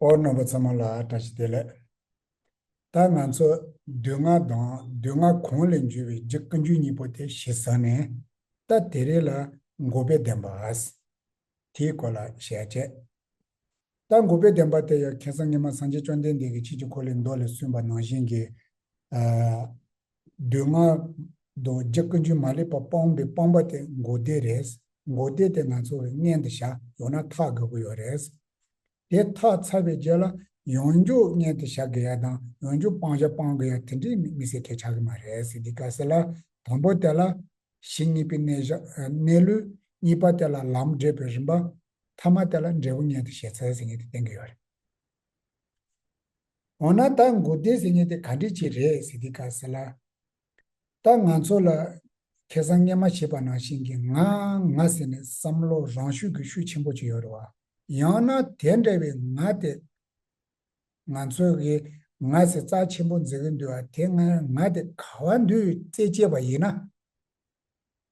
ཨོ་རྣོན་པོ་ཚང་མ་ལ་བཀྲ་ཤིས་བདེ་ལེགས། ད་ང་ཚོ་བདུད་རྔ་དང་བདུད་རྔ་གོང་ལས་འཇུས་པའི་རྗེ་ཀུན་འཇུས་གཉིས་པོ་དེ་གཞི་ས་ནས་ད་དེ་རེས་ལ་མགུ་བའི་བདེན་པ་ཨཱས། དེའི་སྐོར་ལ་ཞལ་བཅད། ད་མགུ་བའི་བདེན་པ་དེ་ཡང་ཁེ་སང་ཉི་མ་སངས་རྒྱས་བཅོམ་ལྡན་འདས་ཀྱི་ཆེད་ཀྱི་འཁོར་ལོའི་མདོ་ལས་གསུངས་པ་ནང་བཞིན་གྱི། བདུད་ལྔ། རྡོ་རྗེ་ཀུན་འབྱུང་མ་ལེགས་པ་སྤོང་བའི་སྤོང་པ་དེ་མགོ་བདེ་རེད། མགོ་བདེ་དེ་ང་ཚོ་བའི་མངལ་དུ་བཞག་ཡོང་ན་ཐག་དགོས་ཀྱི་ཡོད་རེད། དེ་ཐག་ཚར་བའི་རྗེས་ལ་ཡོངས་རྗོགས་མངལ་དུ་བཞག་དགོས་ཡ་དང་ཡོངས་རྗོགས་སྤང་བྱ་སྤང་དགོས་ཡ་དེ་འདྲའི་མི་སེར་ཁས་ཆགས་ཀྱི་མ་རེད་ཟེར་དུས་ཀ་ཟེར་ལ་དང་པོ་དེ་ལ། གཞི་གཉིས་པའི་གནས་བཞག་གནས་ལུས། གཉིས་པ་དེ་ལ་ལམ་འབྲས་བུའི་རིམ་པ། མཐའ་མ་དེ་ལ་འབྲས་བུ་མངལ་དུ་བཞེས་ཚར་ཟེར་ངེས་དེ་བསྟན་གྱི་ཡོད་རེད། འོ་ན་ད་མགོ་བདེ་ཟེར་ངེས་དེ་ག་འདྲི་ཆེ་རེད་ཟེར་དེ་ག་ཟེར་ལ། ད་ང་ཚོ་ལ་ཁེ་བཟང་ངན་མ་བྱེད་པ་ནང་བཞིན་གྱི་ང་ང་ཟེར་ནས་བསམ་བློ་རང་ཤུགས་ཀྱི་ཤུགས་ཆེན་པོ་བྱེད་ཡོད་རེད་བ། ཡང་ན་དེ་འདྲ་བའི་ང་དེ་ང་ཚོ་གི་ང་ཟེར་རྩ་ཆེན་པོ་འཛིན་གི་འདུག་བ་དེ་སྔར་ང་དེ་ག་བ་འདུག་རྩེ་བཅད་པ་ཡིན་ན།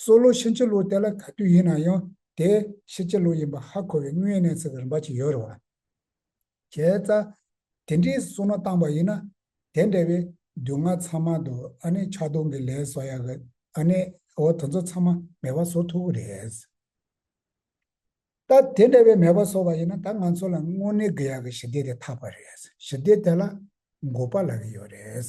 གསོ་ལོ་ཕྱིན་ཅི་ལོག་དེ་ལ་ག་དུས་ཡིན་ན་ཡང་དེ་ཕྱིན་ཅི་ལོག་ཡིན་པ་ཧ་གོ་བའི་དངོས་ཡོད་གནས་ཚུལ་གྱི་རིམ་པ་ཅིག་ཡོད་རེད། བྱས་ཙ། དེ་འདྲའི་གསོ་ན་བཏང་བ་ཡིན་ན། དེ་འདྲ་བའི་དུས་ང་ཚང་མ་དུ་ཨ་ནེ་ཆག་སྡོང་གི་ལས་བཟོ་ཡག་གི་ཨ་ནེ་འོ་དེ་ཚོ་ཚང་མ་མེ་བ་བཟོ་ཐུབ་གི་རེད། ད་དེ་འདྲ་བའི་མེ་བ་བཟོ་བ་ཡིན་ན་ད་ང་ཚོ་ལ་དངོས་གནས་དགོས་ཡག་གི་ཞི་བདེ་དེ་ཐག་པ་རེད། ཞི་བདེ་དེ་ལ་འགོ་པ་ལ་གི་ཡོད་རེད།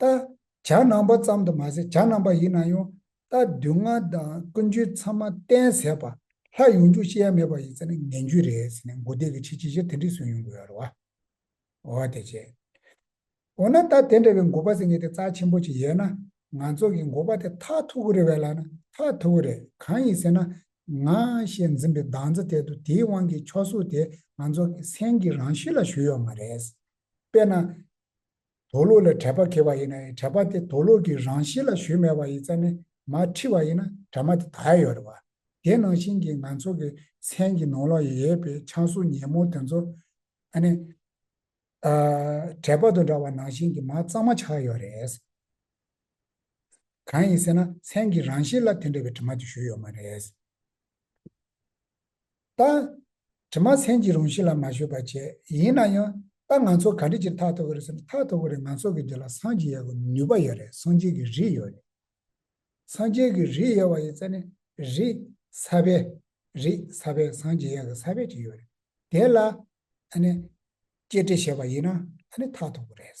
རྟ། བྱ་ནང་པ་ཙམ་དུ་མ་ཟད་བྱ་ནང་པ་ཡིན་ན་ཡང་རྟ་བདུན་ལྔ་དང་ཀུན་སྤྱོད་ཚང་མ་བསྟན་ཟད་པ། ལྷ་ཡོང་རྒྱུ་ཤེས་ཡ་མེད་པ་ཡིན་ཚེ་ནི་ངན་རྒྱུ་རེད་ཟེར་ནས་མགོ་བདེ་གི་ཆེད་ཅི་བཞེད་དེ་འདྲས་གསུངས་ཡོང་གི་ཡོད་རེད་བ། འོ་དེ་བྱས། འོ་ན་ད་དེ་འདྲ་བའི་འགོ་པ་ཟེར་མཁན་དེ་རྩ་ཆེན་པོ་ཅིག་ཡོད་ན་ང་ཚོ་གི་འགོ་པ་དེ་ཐག་ཐུག་གི་རེད་བས་ལ་ན་ཐག་ཐུག་གི་རེད་གང་ཡིན་ཟེར་ན། ང་ཞེས་འཛིན་པའི་འདང་རྩེ་དེ་དུ་དེའི་དབང་གིས་ཆོག་གཟུགས་དེ་ང་ཚོ་གི་སེམས་ཀྱི་རང་གཤིས་ལ་བཞུར་ཡོད་མ་རེད། དཔེར་ན། དོ་ལོག་ལས་དྲད་པ་ཁེལ་བ་ཡིན་ན་དྲད་པ་དེ་དོ་ལོག་གི་རང་བཞིན་ལ་ཞུས་མེད་པ་ཡིན་ཙང་ནི་མ་ཁྲིད་བ་ཡིན་ན་དྲ་མ་དེ་དག་ཡོད་རེད་བ། དེ་ནང་བཞིན་གྱི་ང་ཚོ་གི་མཚན་གྱི་ནང་ལོག་ཡོད་པའི་ཆང་སོ་ཉིན་མོ་དེ་ཚོ་ཨ་ནི་དྲད་པ་དང་འདྲ་བ་ནང་བཞིན་གྱི་མ་གཙང་མ་ཆགས་ཡོད་རེད། གང་ཡིན་ཟེར་ན་མཚན་གྱི་རང་བཞིན་ལ་དེ་འདྲ་བའི་དྲི་མ་དེ་ཞུས་ཡོད་མ་རེད། རྟགས། དྲི་མ་ཚན་གྱི་རང་བཞིན་ལ་མ་བཞོད་པར་བྱས། ཡིན་ན་ཡང། ད་ང་ཚོ་ག་འདྲི་ཅིར་ཐག་ཐོག་གི་རེད་ཟེར་ན་ཐག་ཐོག་གི་རེད་ང་ཚོ་གི་འདི་ལ་སངས་རྒྱས་ཡག་གི་ནུས་པ་ཡོད་རེད་སངས་རྒྱས་ཀྱི་རིགས་ཡོད་རེད། སངས་རྒྱས་ཀྱི་རིགས་ཡོད་བ་ཡིན་ཚེ་ནི། རིགས། ས་པའི། རིགས། ས་པའི་སངས་རྒྱས་ཡག་གི་ས་པའི་ཅིག་ཡོད་རེད། དེ་ལ། ཨ་ནི། སྐྱེས་དྲི་བྱས་པ་ཡིན་ན། ཨ་ནི་ཐག་ཐོག་གི་རེད།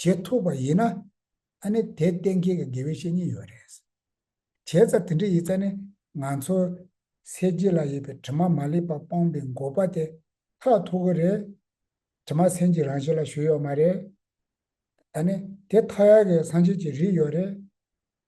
བྱེད་ཐུབ་པ་ཡིན་ན། ཨ་ནི་དེ་གཏན་འཁེལ་གྱི་དགེ་བའི་བཤེས་གཉེན་ཡོད་རེད། བྱས་ཙང་དེ་འདྲ་ཡིན་ཙང་ནི་ང་ཚོ། སེར་སྐྱི་ལ་ཡོད་པའི་དྲི་མ་མ་ལེགས་པ་སྤངས་པའི་འགོག་པ་དེ་ཐག་ཐུག་གི་རེད། དྲི་མ་སེམས་ཀྱི་རང་བཞིན་ལ་ཞུགས་ཡོད་མ་རེད། ཨ་ནི་དེ་མཐའ་ཡས་ཀྱི་སངས་རྒྱས་ཀྱི་རིགས་ཡོད་རེད།